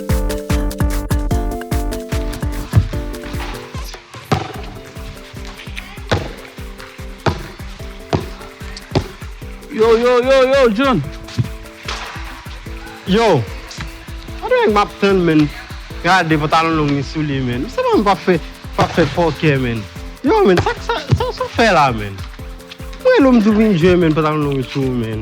Yo yo yo yo John Yo Gade nèg map tann menn Gade pantalon long li sou li menn Msye banm pap fè fòkè menn Yo menn sak sa sa ou fè la menn Mwen rele w mdi w vin jwenn menn pantalon long sou ou menn.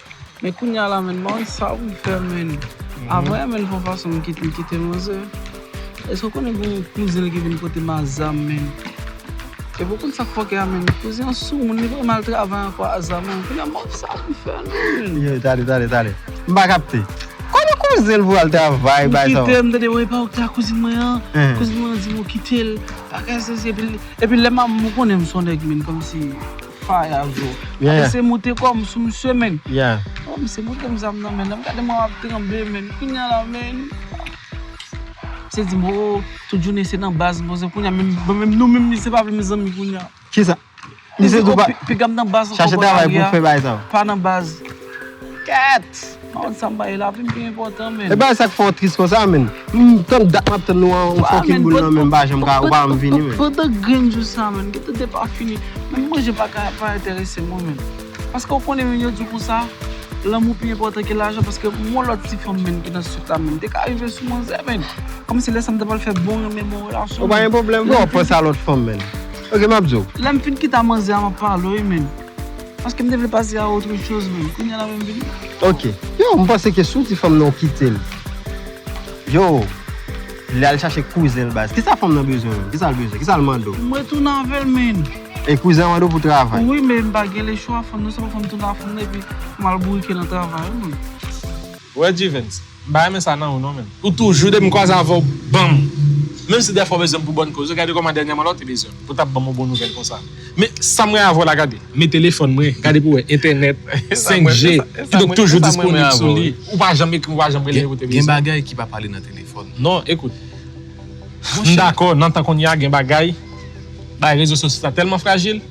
Men kounya la menn man sa ou fè menn Avoye menn fon fason m kite m kite manzè Eske ou konnen gen yon kouzen l ki vin pote m a zam menn Epi ou konn sak fòkè a menn kouzen an sou moun li pa vle al travay ankò a zam an kounya m pap sa ou fè menn. Yow tande tande tande m pa kapte Konnen kouzen l pou al travay bagay sa ou kite m tande ou epa ou ki te ak kouzin mwen an kouzin mwen an di m ou kite l bagay sesi epi lè m ap m ou konnen m son nèg menn kòmsi. Faya zo. Yeah. Ape se moute kom sou misye men. Yeah. Oh misye moutem zam nan men. Nap gade mwen ap tranble men. Kounya la men. Misye dim oh tout jounen se nan baz mwen se kounya menm bon menm nou menm misye pa vle menm zanmi kounya. Kisa? Misye di oh pigam nan baz anko bon lari a. Chache travay pou fe bay sa. Pa nan baz. Ket! Maud sa m bay lavi m pi enpòtan menn. E bagay sa k fè w tris konsa menn? M tann dat map tann nou an fòkit boul nan menm m pa janm ka ou pa janm vini menn. Pandan grenn jou sa menn m gentan depafini menm manje pa ka pa enterese mwen menn. Paske ou konnen menn yo di w konsa lanmou pi enpòtan ke lajan paske m gon lòt ti fanm menn ki nan suit la menn m te ka rive sou manzè menn kòmsi lè sa m ta pral fè bon renmen bon relasyon menn. Ou pa gen pwoblèm fò w panse a lòt fanm menn. Ok map di w. Lè m fin kita manzè a map pale w menn. Paske m te vle pase a autre chose menm. Kounya la menm vini. Ok. Yo, m panse ke si w di fanm nan ou kite l. Yo, li al chache kouzen l baz. Kisa fanm nan bezwen menm? Kisa l bezwen? Kisa l mande w? M retounen avè l menn. E kouzen an mande w pou travay? Wi men m pa gen lechwa. Fanm nan se pou fanm tounen a fanm nan epi pou m al bourike nan travay wi menm. Wè G-Vens, m pa renmen sa nan ou non menm. Ou toujou depi m kwaze avè w banm menm si dèfwa w bezwen m pou bòn koze gade kòman dènyèman la w te bezwen m pou w tap banm yon bon nouvèl konsa men sam renmen avè w la gade men telefòn mwen gade pou w wè entènèt 5 G ki donk toujou disponib sou li ou pa janm ekri m ou pa janm rele m ou te bezwen m. Gen bagay ki pa pale nan telefòn. Non ekout m dakò nan tan konnya gen bagay bagay rezo sosyo sa tèlman frajil.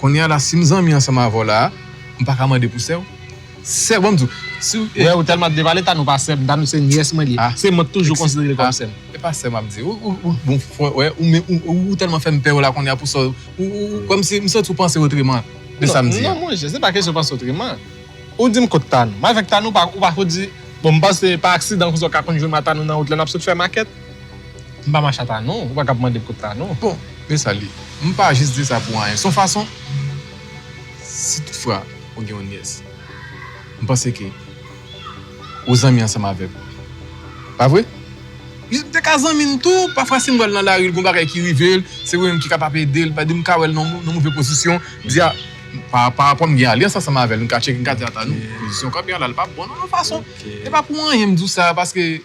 Konnya la sim zanmi ansanm avèw la m paka mande pou sèw sèw banm diw siw te wè ou tèlman ap devale tanou pa sèm tanou se nyès mwen li ye se mwen k toujou konsiderel kòm sèm. Epa sèw map di ou bon fòw wè ou menm ou tèlman fèm pèw la konnya pou sa ou kòmsi m santi ou panse otreman de sam di an. Non monchè se pa kesyon panse otreman ou dim kot tanou m avèk tanou ou pa fouti bon m panse pa aksidan konsa ou ka konn jwenm a tanou nan wout lè nap sot fè makèt. M pa mache ata non, ou pa ka ap mande kot la non. Bon, men sa l ye. M pa jis di sa pou anyen. S on fason, si toutfwa ou gen yon nyès, m panse ke ou zanmi ansanm avèk ou. Pa vre? Li te ka zanmi m tou, pafwa si m wè l nan lari, l gen yon bagay ki rive l, se ou menm ki kapab ede l, m ka wè l nan yon move pozisyon, m di a, parapò m gen alyans ansanm avè l, m ka tcheke, m ka di ata non, pozisyon kanpe a la, li pa bon nan yon fason. Se pa pou anyen m di w sa, paske.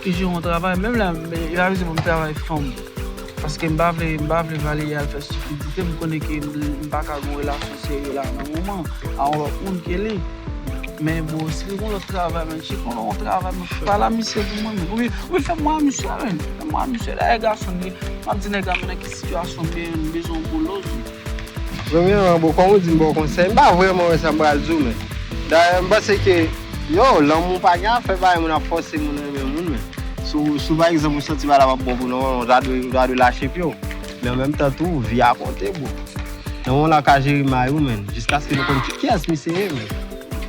Ki jan ou travay? Menm lè yo avize mwen m travay fò m. Paske m pa vle m pa vle Valérie al fè stupidite, m konnen ke m pa ka gen yon relasyon serye la nan moman an, a yon lòt moun ke li. Men bon si li gen yon lòt travay menn, si li gen yon travay menn, pa la misye pou mwen menn. Oubyen oubyen fè m wè a misye menn. Fè m wè a misye. Dayè gason m ye, m ap di nèg la men nan ki sitiyasyon m ye, m bezwen yon bolo. Premye man boo kòm ou dim baw konsèy m pa vrèman wè sa m pral diw men dayè m panse ke yow lanmou pa gen afè bay moun ap fòse moun renmen moun men si pa egzanp ou santi bagay la pap bon pou nòmalman ou ta dwe ou ta dwe lache pye w men an menm tan tou vi a konte boo nan moman la ou ka jere may ou men jiskaske nou konn kiyès misye ye men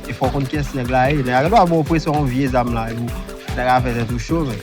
e fòw konn kiyès nèg la ye nèg la gen dwa ba w presyon yon vye zam la epi ou ta ka fè tèt ou cho men.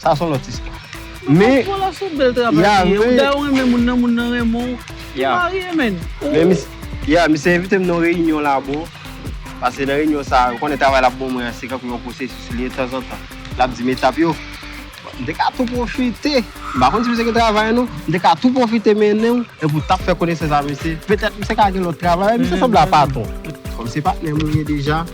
Sa son lòt istwa. Men Ya misye envite m nan yon reyinyon la bro Pase nan reyinyon sa ou konnen travay l ap ban mwen an se tankou yon pwosesis li ye tanzantan l ap di m etap yo M te ka tou pwofite m pa konn si misye gen travay non M te ka tou pwofite mennen w epi w t ap fè konesans avèk misye petèt misye ka gen lòt travay men misye sanble a pa ton Kòm se patnè m ou ye deja.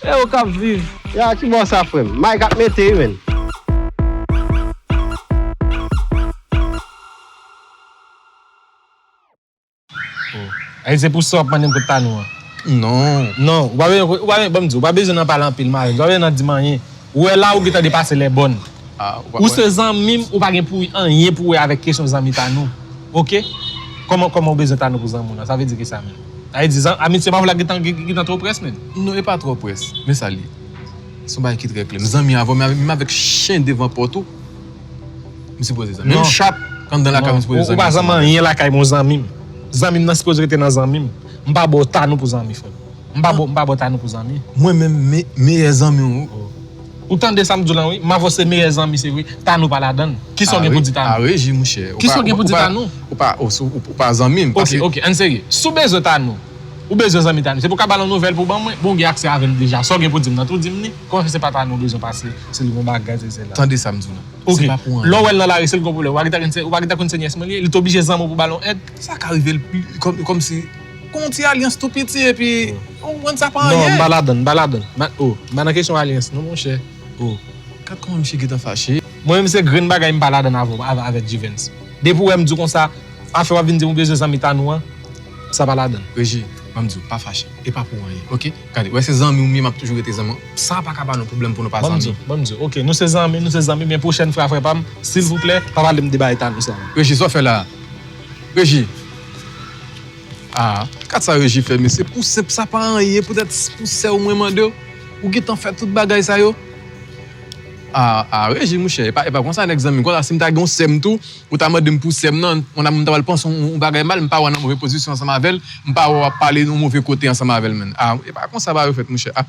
E ou kap viv. Ya a kibò sa frèm. Mike ap mete wi menn. Eske se pou sa wap mandem kot Tanou an? Non. Non, ou pa bezwen, ou pa bezwen, banm diw, ou pa bezwen nan pale anpil Maes, ou pa bezwen nan dim anyen. Ou wè la ou gentan depase lè bòn. Ou se zanmim ou pa gen pou anyen pou wè avèk kesyon zanmi Tanou ok kòman kòman ou bezwen Tanou pou zanmi w nan sa vle di kisa menm sa vle di amitye pa vle gentan gentan twò près menm. Non epa twò près men sa liye son bagay ki trè klè m zanmi avèw men menm avèk chen devan pòt ou m sipoze zanmi menm chat anndan lakay ou m sipoze zanmi avèw non ou pa zanmi anyen lakay m ou zanmim zanmim nan sipoze rete nan zanmim m pa baw Tanou pou zanmi frèm. M pa bo m pa bo Tanou pou zanmi. Mwen menm me meyè zanmi w. Ou tande sam di w lan wi Mavo se meyè zanmi se vre Tanou pa ladann kisa w gen pou di Tanou. A reji mouchè. Kisa w gen pou di Tanou. Ou pa ou pa zanmi m. Ok ok ann serye si w bezwen Tanou ou bezwen zanmi Tanou se pou w ka ba l yon nouvèl pou w ban mwen bon w gen aksè avè l deja sa w gen pou w di m lan tou di m li kòm se pa Tanou w bezwen pase se l yon bagay sesi sela. Tande sam di w lan. Ok lè w wè l nan lari se l k yon pwoblèm ou pa gen tan konn se nyès mwen li ye li t oblije zanmi w pou w ba l yon èd. Sa ka rive l kòm si. Kon yon ti alyans tou piti epi ou konprann sa pa anyen. Non, m pa ladann, m pa ladann. M pa, o, m pa nan kesyon alyans non monchè, o. Gad kòman misye gentan fache. Mwen menm se grenn bagay m pa ladann avè w, avèk G-Vens. Depi ou wè m di w konsa, afè w ap vin di m ou bezwen zanmi Tanou an, sa pa ladann. Regi, ban m di w, pa fache. E pa pou anyen, ok. Gade, ou wè se zanmi w m ye, m ap toujou rete zanmi w. Sa pa ka ba nou pwoblèm pou nou pa zanmi. Ban m di w, ban m di w, ok, nou se zanmi, nou se zanmi, men pwochèn fwa frè pa m, silvouplè, pa pale m de bagay Tanou sa. Regi, sa w fè la a? Regi! Ah gad sa Reji fè mesye pou senp sa pa anyen poutèt pou sèw mwen mandew ou gentan fè tout bagay sa yo Ah ah Reji monchè epa epa konsa nèg zanmim konsa sim ta gen yon sèm tou ou ta mandem pou sèm nan mwen ta pral panse yon bagay mal mpa wè nan move pozisyon ansanm avèl mpa wè wap pale yon move kote ansanm avèl menn ah epa konsa bagay yo fèt monchè ah.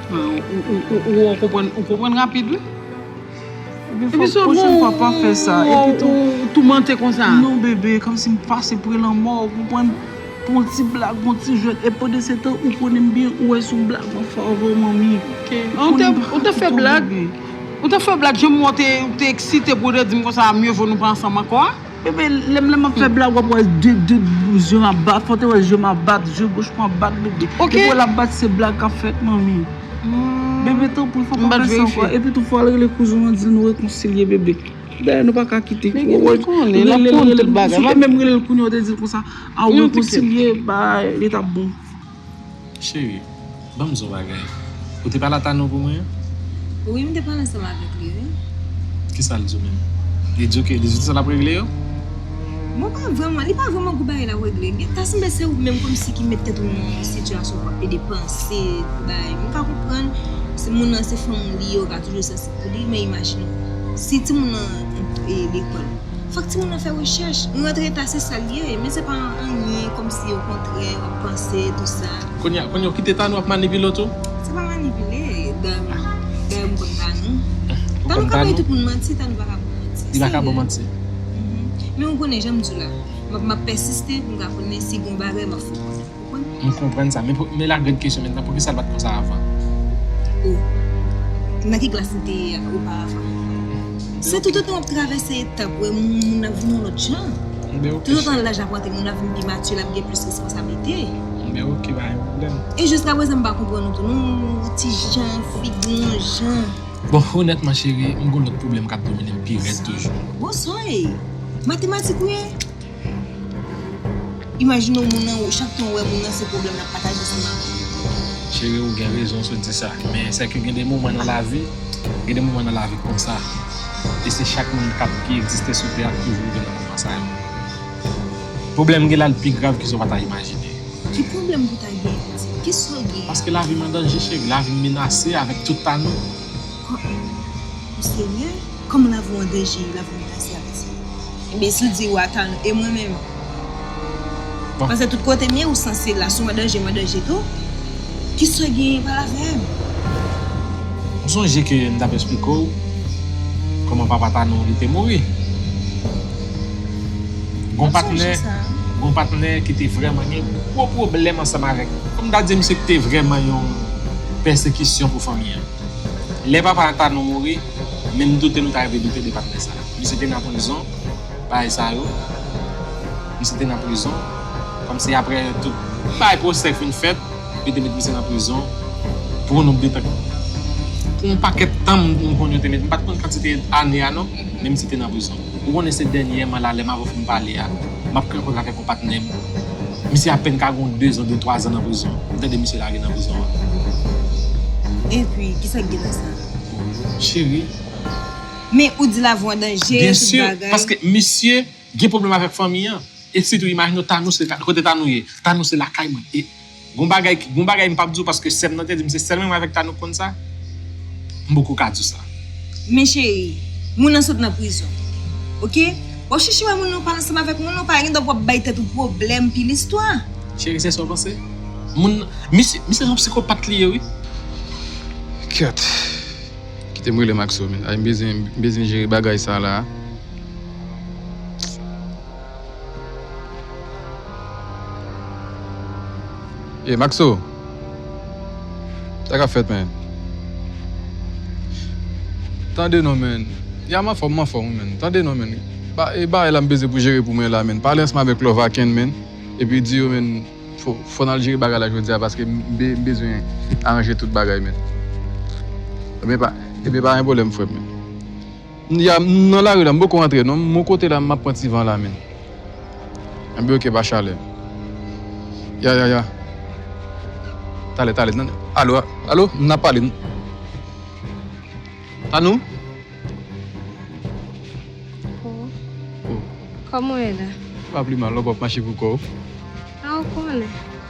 Ou konprann ou konprann rapid wi. Epi fòk pwochen fwa pa fè sa. Epi tou ou toumante konsa. Non bebe kòmsi m pase pre lanmò ou konprann. Pou yon ti blag pou yon ti jwèt. Epi pandansetan ou konnen m byen ou wè son blag map fè avèw manmi. Ou te fè blag. Ou te fè blag jan m wè w te eksite pou w te di m konsa mye vo nou pa ansanm ankò a. Bebe lem lem ap fe blag wap we de de zye m ap bat fote we zye m ap bat zye goch mwen ap bat bebe ok depi we lap bat se blag kap fet manmi bebe tanpri fok pa fe sa anko epi tou fo al rele kouzin an dil nou rekonsilye bebe dayè nou paka kite men gin lem konnen lap konnen tout bagay si w te menm relel kounya w te dil konsa a ou rekonsilye ba li tap bon. Cheri, ban m zon bagay. Ou te pale a Tano pou mwen? Wi, m te pale ansanm avèk li wi. Kisa l di w menm? Li di w ke li di tout sa l ap regle yo? Bon, pa vrèman, li pa vrèman gwo bagay l ap regle. Gen, ta sanble se ou menm kòmsi ki met tèt ou nan yon sitiyasyon pou ap ede panse bagay. M ka konprann, se moun nan se fanm li, yo ka toujou sansib pou li, men imajine w, si timoun nan ap lekòl. Fòk timoun nan fè rechèch. Nou antre ta se sal ye, men se pa anyen kòmsi o kontrè wap panse tou sa. Kounya kounya ou kite Tanou ap manipile w tou? Se pa manipile, Tanou dayè m konn Tanou. Tanou ka bay tout moun manti, Tanou pa ka bon manti. Li pa ka bon manti. Men ou konnen janm diw la, map map pèsiste poum ka konnen si gon bagay map fè w konnen. M konprann sa. Men la grande question maintenant, poukisa l pa t konsa avan? O, nan ki klas li te ye a oparavan? Se toutotan w ap travèse etap, wè moun nan ap vin yon lòt jan. Toutotan laj ap rantre, moun nan ap vin pi mature, l ap gen plis responsablite. Men ok, pa gen pwoblèm. E jiskapwezan m pa konprann ou tou non, ou ti jan, figi w yon jan. Bon, onètman cheri, m gen yon lòt pwoblèm k ap domine m pi rèd toujou. Bon, son e? Matematik ou ye? Imajine w moun nan, chak tan w wè moun nan se pwoblèm lap pataje sou ou. Cheri ou gen rezon sou di sa, men se ke gen de moman nan lavi, gen de moman nan lavi konsa, e se chak moun kap ki egziste sou tè a k toujou rive nan moman sa yo. Pwoblèm gen la l pi grav ke sa w pa ta imajine. Ki pwoblèm pou ta gen? Ki sa w gen? Paske lavi m an danje cheri, lavi m menase avèk tout pa nou. Kò an wi. O Senyè, kòman la vi an danje, la vi an menase avèk sa yo? Enben, si l di ou, Atan, e mwen menm? Pase tout kote m ye, ou sanse la. Si w an danje, m an danje tou. Ki sa w genyen? Pale avè m! M sonje ke m t ap esplike w kòman papa Tanou an li te mouri. Gon patnè, gon patnè ki te vrèman gen gwo pwoblèm ansanm avèk li. Kòm m ta di misye te vrèman yon pèsekisyon pou fanmi an. Lè papa Antanou mouri, men m doute nou ta rive doute de patnè sa a. Misye te nan prizon, bagay sa yo. Misye te nan prizon. Kòmsi aprè tout bagay pwosè fin fèt, yo te met misye nan prizon pou yon nonb de tan. Pou yon pakèt tan m konn yo te met, m pa t konn kantite ane a non, men misye te nan prizon. Ou konnen se dènyèman la lè m avè w fin pale a, m ap kanpe avèk yon patnè m. Misye apèn ka gen yon dezan de twazan nan prizon. M tande misye lage nan prizon an. Epi, ki sa k gen nan sa? Cheri. Men, ou di lavi w an danje, tout bagay. Byensi, paske misye gen pwoblèm avèk fanmi an. E sitou, imajine w Tanou se kote Tanou ye. Tanou se lakay mwen. Gon bagay ki gon bagay m pap di w paske sèm nan te di m se sèl mwen avèk Tanou k konn sa m poko ka di w sa. Men cheri, moun nan sot nan prizon ok wap chèche wè moun nan ou pale ansanm avèk moun nan ou pa gen dwa pou wap bay tèt ou pwoblèm pi listwa. Cheri se sa w panse? Moun nan misye misye son psikopat li ye wi. Kèt. Kite m rele Maxo men. Ay m bezwen m bezwen jere bagay sa la. Ey Maxo! Sa kap fèt man? Tande non man! Ya m anfòm m anfòm wi man! Tande non man! Ba e bagay la m beze pou jere pou mwen la man! Pale ansanm avèk Love Aken man! Epi di yo man fò n al jere bagay la jodi a paske m bezwen aranje tout bagay man! Ebyen pa gen pwoblèm frè m man! M ya m nan lari la m poko antre non m yon kote la map pran ti van la min anbe ok pa chalè ya ya ya talè talè nan alo alo nap pale n tanou oh kòman w ye la m pa plimal non paw ap mache pou kòw ah ou konnen.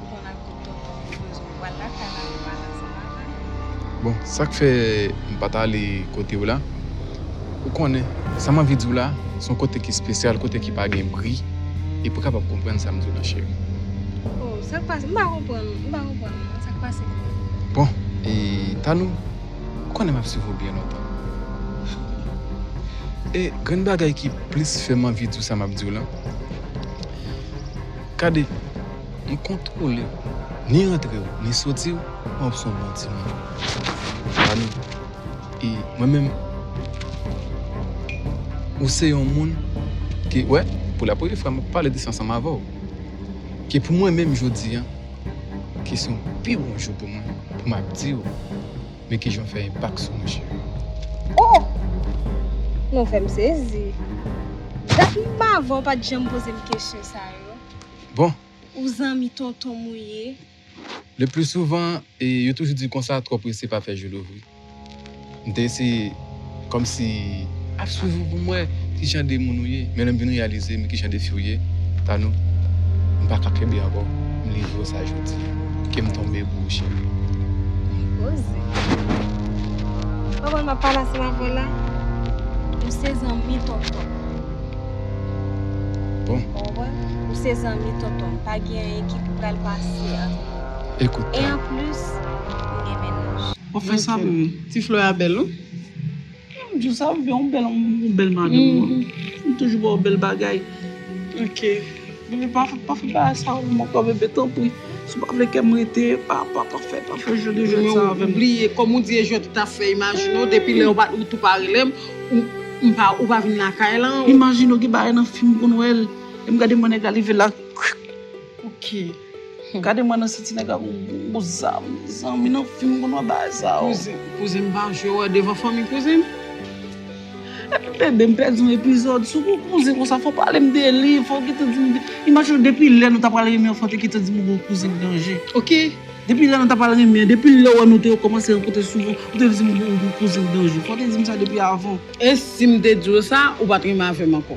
Ou konn ak tout tonton ou bezwen ou pral lakay la ou pral ansanm avèm. Bon sak fè m pat ale kotew la ou konnen sam anvi diw la son kote ki spesyal kote ki pa gen bri epi ou kapab konprann sam diw la cheri. Oh sak pase m pa konprann m pa konprann non sak pase menm. Bon e Tanou ou konnen map swiv ou byen lontan e grenn bagay ki plis fèm anvi diw sa map diw la. Gade, m kontwole w, ni antre w, ni soti w, w ap son bon timoun. Gade, e mwen menm, ou se yon moun ke, wè, pou la premye fwa m ap pale de sa ansanm avè w, ke pou mwen menm jodi an, ke se yon pi bon jou pou mwen, pou m ap di w, Men kijan fè enpak sou mouche. Oh! Nou fèm sezi. Dat m pa avè w pat janm poze m kesyon sa yo. Bon! Ou zanmi tonton m ou ye. Le pli souvan, yo toujou di konsa twò prese pa fè jou louvri. M te eseye. Kòmsi, ap swiv ou pou m wè ki jan de moun ou ye. Men lè m vin reyalize m ki jan de fi w ye, Tanou, m pa ka kenbe ankò, m livre w sa jodi. Ke m tonbe pou ou cheri. Li poze. Pa wè m ap pale ansanm avè w la? Ou se zanmi tonton m. Bon. Ou konprann? Ou se zanmi tonton m. Pa gen anyen ki pral pase ant nou. Ekout, Tanou. E anplis, m gen mennaj. Wap fè sa pou mwen. Ti fleur a bèl wi. Mwen di w sa ou gen yon bèl yon bèl madanm wi. Li toujou ba w bèl bagay. Ok. Bebe pa fè pa fè bagay sa avèm ankò bebe tanpri. Si w pa vle kèm rete pa pa pa fè pa fè jwèt de jwèt sa avèm. Ou bliye kòm ou di e jwèt ou ta fè imajine w depi lè ou tou pa rele m m pa ou pa vin lakay lan. Imajine w gen bagay nan fim m konn wè l. Lè m gade mwen nèg la leve la. Ok. Gade mwen nan si ti nèg la gon gwo zam mezanmi nan fim konn wè bagay sa yo. Kouzen m pa jwe wè devan fanmi kouzen m. Epi bebe m pèdi yon epizòd sou kou kouzen konsa fò pale m de li fò gentan di m imajine w depi lè nou ta pral renmen anfante gentan di m ou gon kouzen ki danje ok depi lè nou ta pral renmen depi lè w wè nou te kòmanse rankontre souvan ou te di m ou gon kouzen ki danje fò w te di m sa depi avan. E si m te di w sa ou pat renmen avè m ankò.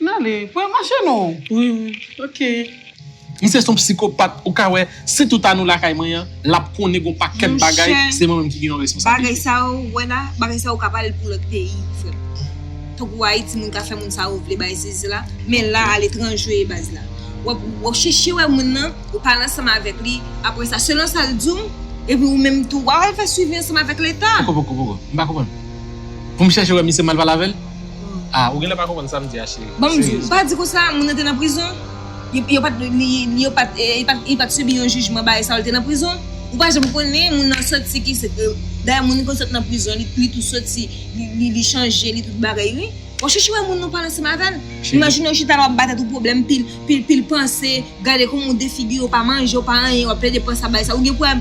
N ale pou yo mache non. Wi wi ok. Misye son psikopat ou ka wè si tout anou lakay mwen an lap konnen gon pakèt bagay se mwen menm ki gen yon responsabilite. Bagay sa yo wè la bagay sa yo ka pale pou lòt peyi frèm tankou ayiti moun ka fè moun sa yo vle bay sesi sela men la aletranje baz la wap chèche wè moun nan ou pale ansanm avèk li aprè sa selon sal diw epi ou menm tou wap al fè swivi ansanm avèk leta. Poko poko poko m pa konprann poum chèche wè misye m al pale avèl? Ah ou genlè pa konprann sam di a cheri. Banm di w, pa di konsa, moun nan te nan prizon, yo pat li yo pat li pat sibi yon jijman bagay sa yo l te nan prizon, ou pa janm konnen moun nan soti ki dayè moun konn sot nan prizon li tou soti li chanje li tout bagay wi, wap chèche wè moun ou pale ansanm avèl, imajine ou chita la wap batèt ou pwoblèm pil pil panse, gade kòman ou defigire ou pa manje ou pa anyen wap plede panse a bagay sa ou gen pou wè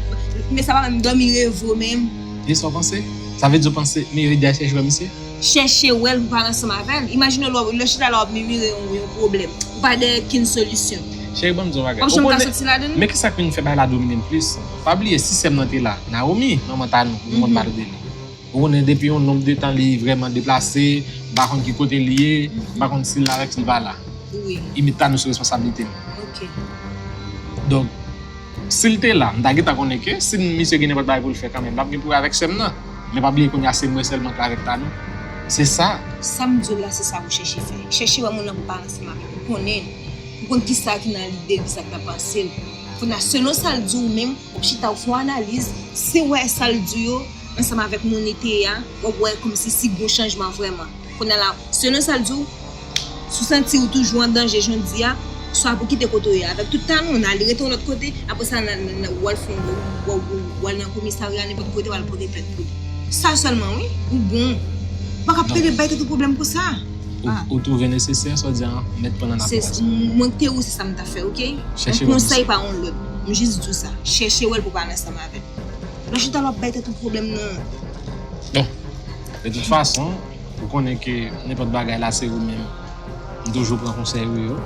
men sa pa menm dòmi reve w menm. Li sa w panse? Sa vle di w panse Mirida chèche wè misye? Chèche wè l pou w pale ansanm avè l. Imajine w lè w chita la w ap mimire yon pwoblèm. Ou pa dèyè kenn solisyon. Cheri ban m di yon bagay. Ou janm ka soti ladan li. Men ki sa k vin fè bagay la domine m plis. Pa bliye si sè m nan te la. Nawomi, manman Tanou, nou konn pale de li. Ou konnen depi yon nonb de tan li vrèman deplase, m pa konn ki kote li ye, m pa konn si l la rèk si l pa la. Wi. Imit Tanou se responsablite m. Ok. Donk. Si l te la, m ta gentan konnen ke si misye gen nenpòt bagay pou l fè kanmenm, l ap gen pou wè avèk sè m nan. Men pa bliye kounye a se mwen sèlman k la avèk Tanou. Se sa. Sa m di w la se sa pou w chèche fè. Chèche wè moun lan pou w pa ansanm avè l, pou w konnen l, pou w konn kisa ki nan lide l, kisa ki nan panse l. Kounye a, selon sa l di w ou menm, w ap chita w ap fè yon analiz, si w wè sa l di yo ansanm avèk moun li te ye a, w ap wè kòmsi si gen yon chanjman vrèman. Kounye la, selon sa l di w, si w santi w toujou an danje jodi a, swa pou w kite kote w ye avèk tout talan w nan, ale rete yon lòt kote, apre sa w al fè yon, w al nan komisarya, nenpòt kote w al pote plent pou li. Sa sèlman wi, ou bon. Ou pa ka ap rete bay tèt ou pwoblèm konsa. Ou twouve nesesè sa w di a mèt pran nan afè a sa? Mwen kite ou se sa m ta fè ok. Yon konsèy pa yon lòd. M jis di w sa. Chèche wè l pou w pa al ansanm avè l. Lò w chita la w ap bay tèt ou pwoblèm nan. De tout fason, ou konnen ke nenpòt bagay la se ou menm m toujou pran konsèy ou yo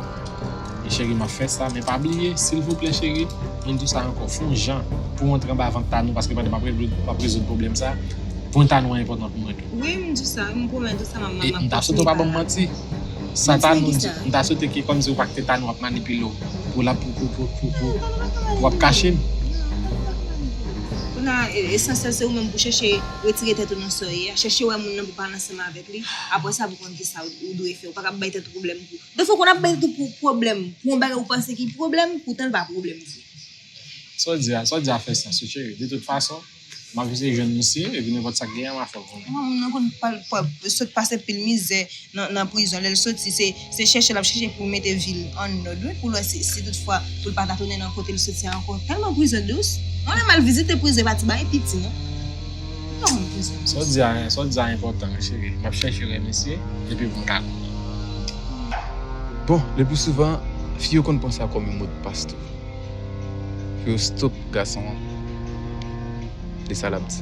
e cheri map fè sa men pa bliye silvouplè cheri m di w sa ankò fon jan pou w antre anba vant Tanou paske pandan map rezoud pwoblèm sa pwen Tanou an enpòtan pou mwen tou. Wi m di w sa m pwomèt ou sa map kontinye pa la. E m ta swete w pa banm manti sa Tanou di m ta swete ke kòmsi ou pa kite Tanou ap manipile w pou lap pou wap kache m. Kounye a esansyèl se ou menm pou chèche. Retire tèt ou nan sa w ye a, chèche wè moun nan pou pale ansanm avèk li, aprè sa pou konn kisa ou dwe fè, ou pa ka ap bay tèt ou pwoblèm pou, dèfwa ou konn ap bay tèt ou pwoblèm pou yon bagay ou panse ki pwoblèm poutan l pa pwoblèm vre. Sa w di a, sa w di a fè sans wi cheri, de tout fason m ap eseye jwenn misye epi nenpòt sa k genyen an m a fè w konnen. Moun nan konn pale, sot pase pil mizè. nan prizon lèl soti se chèche lap chèche pou mete vil an nod wi poul wè si tout fwa poul pata tounen nan kotel soti an ankò tèlman prizon dous mwen menm al vizite prizon epa ti bagay piti non mwen pa renmen prizon dous. Saw di a saw di a enpòtan wi cheri map chèche rèn mesye depi poum ka bon le plus souvent fi yo konn pran sa kòm yon modpas tou pou yo stop gason an e sa lap di.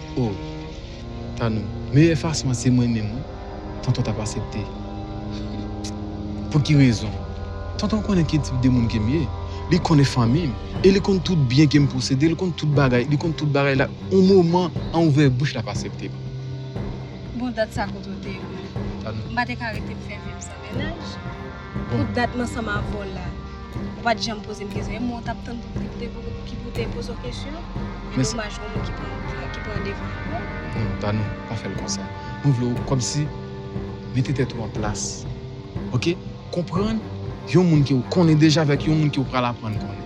Oh tanou meyè fason an se mwen menm wi tonton tap asepte pouki rezon tonton konnen ki tip de moun kem ye li konnen fanmim e li konn tout byen kem posede li konn tout bagay li konn tout bagay la yon moman an ouvè bouch lap aseptem bon dat sa kote ou te ye menm tanou m pa te ka rete m fè vim san mennaj. Pou dat m ansanm avè w la, ou pa t janm poze m kesyon. E mwen w t ap tann pou ki pou w te poze w kesyon? E domaj gonm ou ki pran devan an non. Non Tanou, pa fè l konsa. Mwen vle w kòmsi mete tèt ou an plas. Ok? Konprann yon moun ke ou konnen deja avèk yon moun ke ou pral aprann konnen.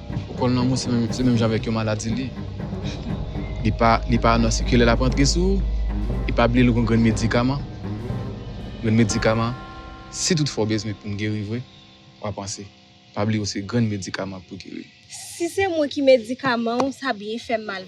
Ou konn lanmou se menm se menm jan avèk yon maladi li li pa li pa anonse ki lè lap antre sou ou e pa bliye li gon grenn medikaman grenn medikaman si tout fwa ou bezwen poun geri vre wap panse pa bliye ou se grenn medikaman pou geri. Si se mwen ki medikaman ou sa byen fèm mal.